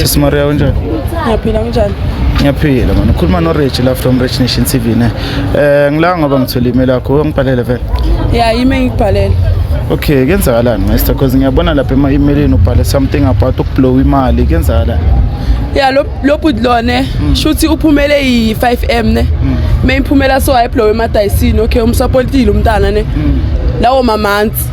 Sisi Maria unjani? Ngiyaphila unjani? Ngiyaphila manje. Ukhuluma no Rich la from Rich Nation TV ne. Eh ngila ngoba ngithole email yakho ngibhalele vele. Yeah, email ngibhalele. Okay, kenzakalani Master because ngiyabona lapha ema emailini ubhale something about ukublow imali kenzakalani? Yeah, lo lo bud lone hmm. shuthi uphumele yi 5M ne. Hmm. Mayiphumela so ayiblow emadayisini okay umsupportile umntana ne. Hmm. Lawo mamanzi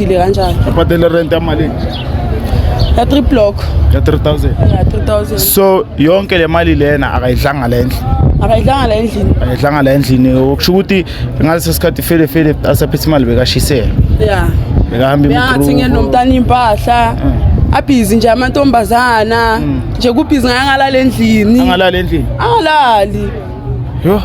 Ile kanjani? Abhadela rent yamalini? Ya 3 block. Ya 3000. Ya 3000. So yonke le mali lena akayidlanga le ndlu. Akayidlanga la endlini. Akayidlanga la endlini. Okusho ukuthi ngalesi sikhathi fele fele asaphethe imali bekashisela. Yeah. Bekahamba imgrubo. Ngathi ngenomntana impahla. Mm. abhizi nje amantombazana mm. nje kubhizi ngaye angalali endlini angalali endlini angalali yho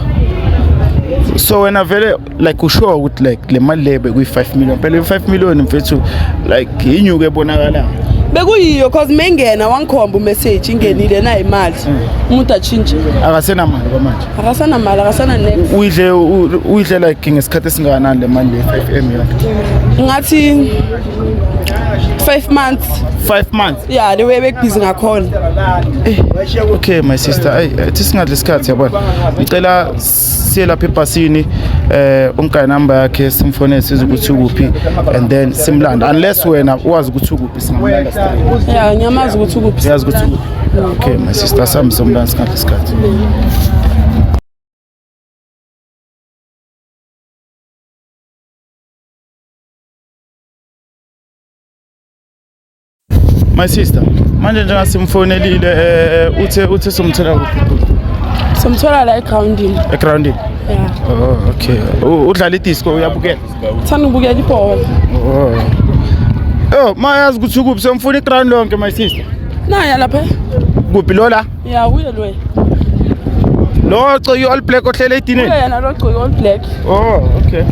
so wena vele like usure ukuthi like le mali le bekuyi-five million phela i-five million mfethu like yinyuko ebonakalayo bekuyiyo cause mengena wangikhomba umessage ingenile nayo imali mm. umuntu atshintshe akasenamali kwamanje akasanamali akasana ne uyidle uyidle like ngesikhathi esingakanani le mali le-five m yakhe ngathi five months five months ya le way bekubhizi ngakhona eh, okay my sister ayi eh, thi singadli isikhathi yabona ngicela siye lapha ebhasini eh umgane number yakhe simfonele size ukuthi ukuphi and then simlande unless wena uwazi ukuthi ukuphi singamlanda straight ya ngiyamazi ukuthi ukuphi siyazi ukuthi ukuphi okay my sister sami somlanda sikhathi isikhathi My sister, manje njenga simfonelile eh, eh uthe uthe somthola kuphi? Somthola la egroundini. Egroundini. Yeah. Oh, okay. Udlala idisco uyabukela? Thanda ubukela ibhola. Oh. Oh, mayazi ukuthi ukuphi somfuna iground lonke my sister. Naya lapha. Kuphi lola? ya uye loye lo coyi all black ohlele edinini uye yena lo coyi all black oh okay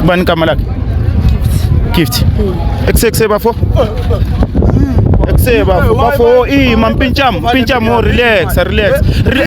ubani igama lakhe gift ekusekuseyi bafo ekuseye bafo bafo ima mpintsham mpintsham o relax relax Re-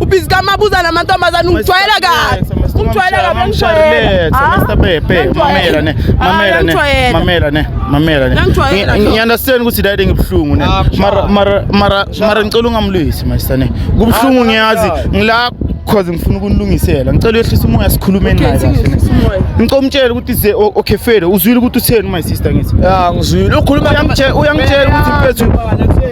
Ubizika mabuza namantombazane ungijwayela kabi. Ungijwayela kabi ngijwayela. Ah, Mr. Pepe, mamela ne. Ah, mamela ne. Mamela ne. Mamela ne. Ngiyandastand ukuthi dade ngibuhlungu ne. Ah, mara mara mara mara ngicela ungamlwisi my son. Kubuhlungu ngiyazi ngila cause ngifuna ukunilungisela ngicela uyehlisa umoya sikhulume naye kahle ngicela umtshele ukuthi ze okay fede uzwile ukuthi utheni my sister ngithi ya ngizwile ukhuluma uyangitshela ukuthi mfethu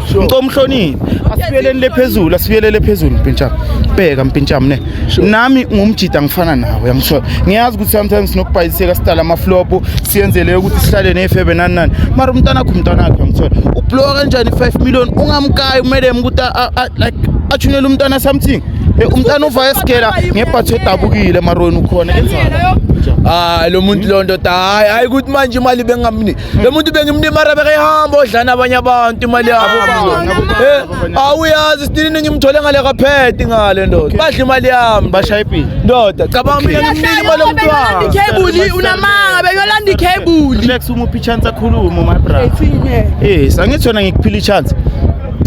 ngicela umhloniphe asibuyeleni lephezulu asibuyelele phezulu mpintshama bheka mpintshama ne nami ngumjida ngifana nawe yangithola ngiyazi ukuthi sometimes sinokubhayiseka sidala amaflopo siyenzele ukuthi sihlale ney'febe nani nani mara umntanakho umntanakho yangithola ublowa kanjani i-five million ungamkayi umelem ukuthi like athunele umntana something umntana uva esigela ngebhatho edabukile marweni ukhona enzani hayi lo muntu lonto hayi hayi ukuthi manje imali bengamniki lo muntu bengimlimara bekehamba odlana abanye abantu imali yabo Eh, awuyazi sidinini ngimthole ngale kaphethe ngale ndoda badla imali yami bashaye ipini ndoda cabanga mina ngimnike imali yomntwana Ikebuli unamanga beyolanda ikebuli. relax uma uphi chance akhulume my brother eh sangithona ngikuphila i chance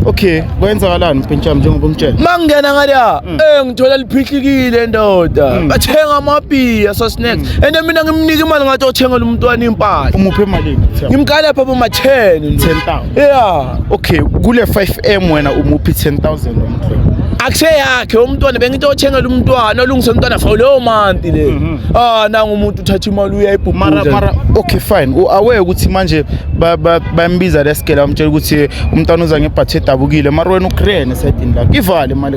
okay kwenzakalani mpentsha njengoba ungitshela mangena ngale Eh ngithola liphihlikile ndoda. Mm. Bathenga amabhiya so snacks. Mm. And mina ngimnika imali ngathi othengela umntwana impahla. Umuphe imali ngithe. Ngimkhala pha boma 10. 10000. Yeah. Okay, kule 5M wena umuphi 10000 umntwana. akuse yakhe umntwana bengithi othengela umntwana olungise umntwana for leyo manti le mhm. ah nanga umuntu uthatha imali uyayibhubhula mara okay fine uaware ukuthi manje bayambiza lesigela umtshela ukuthi umntwana uza ngebhathi edabukile mara wena ugrene esayidini lakhe ivale imali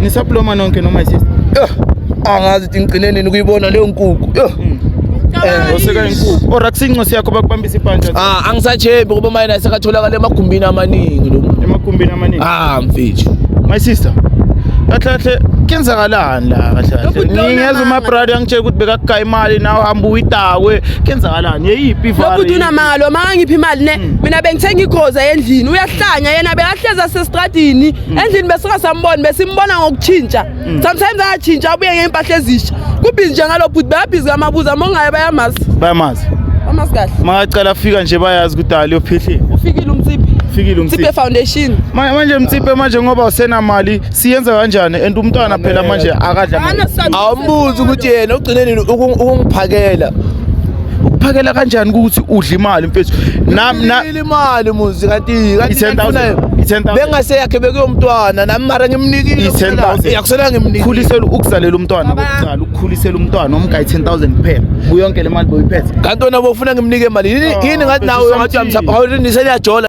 Nisaploma nonke noma isister. Yho, angazi ukuthi ngigcine nini ukuyibona leyo nkukhu. Yho. Eh, Oseka inkukhu. Or akusincosi yakho bakubambisa iphantsha Ah, angisachembi ngoba mayena esekatholakala emagumbini amaningi lo muntu. emagumbini amaningi. Ah, mfethu. My sister. Kahle kahle kenzakalani la kahle kahle. Lokhu dona Ngiyeza manga. uma brother angitshela ukuthi bekakugaya imali nawe hamba uyitakwe. Kenzakalani? Yeyiphi ivara? lokhu unamanga lo mangangiphi imali ne mina bengithenga igoza endlini uyahlanya yena bekahleza sesitradini Mm. endlini besuka sambona besimbona ngokutshintsha mm. sometimes ayatshintsha abuye ngey'mpahla ezisha kubhizi nje ngalo bhuti bayabhizi kamabuza mongayo bayamazi bayamazi bamazi kahle makacala afika nje bayazi ukuthi ali yophihli ufikile umtsiphi fikile umtsiphe foundation manje mtsiphe manje ngoba usenamali siyenza kanjani and umntwana phela manje akadla awumbuzi ukuthi yena ugcine nini ukungiphakela ukuphakela kanjani ukuthi udla imali mfethu imali muzi kanti bengaseyakhe bekuyomntwana nami mara ngimnikileyakusela ngimnikhulisela ukuzalela umntwana kokuqala ukukhulisela umntwana omga i-ten thousand kuphela kuyonke le mali boyiphethe kanti wena bofuna ngimnike imali yini oh, ngathi nawe ngathi uyamsaphaniseliyajola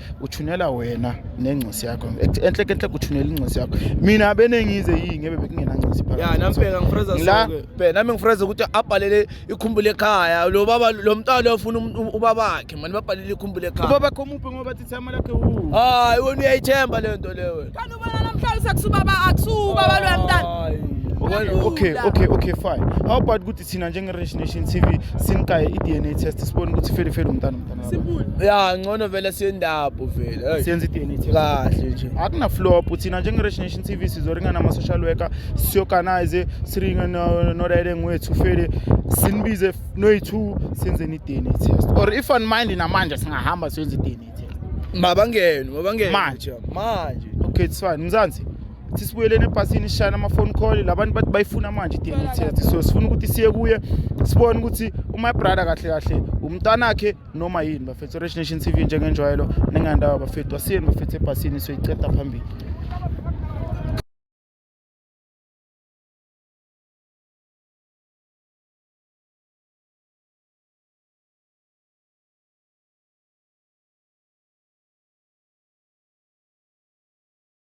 uthunela wena nengcisi yakho enhle enhle kuthunela ingcisi yakho mina benengize yini ngebe bekungenangcisi phakathi ya nami bheka ngifreza sonke bheka nami ngifreza ukuthi abhalele ikhumbulo ekhaya lo baba lo mntwana ufuna um- um- ubaba wakhe manje babhalele ikhumbulo ekhaya ubaba kho muphi ngoba thi thama lakhe u hayi wena uyayithemba le nto le wena kanti ubona namhlanje sekusubaba akusubaba lo mntana okay okay okay fine how about ukuthi thina njenge-rich nation t v siniqaye i-d n a test sibone ukuthi ifelifeli umntana umntana ya ngcono vele siyendabo vele siyenza i-d n a test kahle nje akunaflop thina njenge-rich nation t v sizoringa nama-social worker siorganize siringe norayeleng wethu fele sinibize noyi-two senzeni i-d n a test or if on mind namanje singahamba siyenza i-d n a test mabangene mabangene manje manje okay it's fine mzansi sisibuyeleni ebhasini sishayela ama-phone call labantu bathi bayifuna manje i-dna test so sifuna ukuthi siye kuye sibone ukuthi uma brother kahle kahle umntanakhe noma yini bafethu orange nation tv njengenjwayelo ningandawo bafethu asiyeni bafethu ebhasini soyiceda phambili